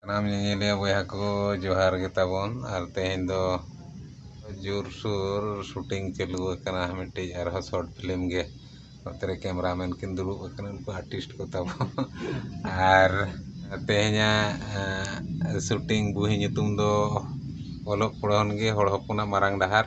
ᱥᱟᱱᱟᱢ ᱧᱮᱧᱮᱞᱤᱭᱟᱹ ᱵᱚᱭᱦᱟ ᱠᱚ ᱡᱚᱦᱟᱨ ᱜᱮ ᱛᱟᱵᱚᱱ ᱟᱨ ᱛᱮᱦᱮᱧ ᱫᱚ ᱡᱳᱨᱥᱳᱨ ᱥᱩᱴᱤᱝ ᱪᱟᱹᱞᱩ ᱟᱠᱟᱱᱟ ᱢᱤᱫᱴᱤᱡ ᱟᱨᱦᱚᱸ ᱥᱚᱨᱴ ᱯᱷᱤᱞᱢ ᱜᱮ ᱱᱚᱛᱮ ᱨᱮ ᱠᱮᱢᱮᱨᱟ ᱢᱮᱱ ᱠᱤᱱ ᱫᱩᱲᱩᱵ ᱟᱠᱟᱱᱟ ᱩᱱᱠᱩ ᱟᱨᱴᱤᱥᱴ ᱠᱚ ᱛᱟᱵᱚᱱ ᱟᱨ ᱛᱮᱦᱮᱧᱟᱜ ᱥᱩᱴᱤᱝ ᱵᱩᱦᱤ ᱧᱩᱛᱩᱢ ᱫᱚ ᱚᱞᱚᱜ ᱯᱚᱲᱦᱚᱱ ᱜᱮ ᱦᱚᱲ ᱦᱚᱯᱚᱱᱟᱜ ᱢᱟᱨᱟᱝ ᱰᱟᱦᱟᱨ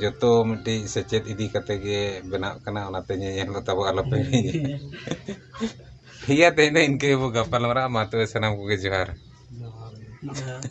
ᱡᱚᱛᱚ ᱢᱤᱫᱴᱤᱡ ᱥᱮᱪᱮᱫ ᱤᱫᱤ ᱠᱟᱛᱮᱫ ᱜᱮ ᱵᱮᱱᱟᱜ ᱠᱟᱱᱟ ᱚᱱᱟᱛᱮ ᱧᱮᱧᱮᱞ ᱫᱚ ᱛᱟᱵᱚ ᱟᱞᱚ ᱯᱮ ᱦᱤᱲᱤᱧᱟ ᱴᱷᱤᱠ ᱜᱮᱭᱟ ᱛᱮᱦᱮᱧ ᱫᱚ ᱤᱱᱠᱟᱹ ᱜᱮᱵᱚᱱ ᱜᱟᱯᱟᱞᱢᱟᱨᱟᱜᱼᱟ ᱢᱟ ᱛᱚᱵᱮ ᱥᱟᱱᱟᱢ ᱠᱚᱜᱮ ᱡᱚᱦᱟᱨ ᱡᱚᱦᱟᱨ ᱜᱮ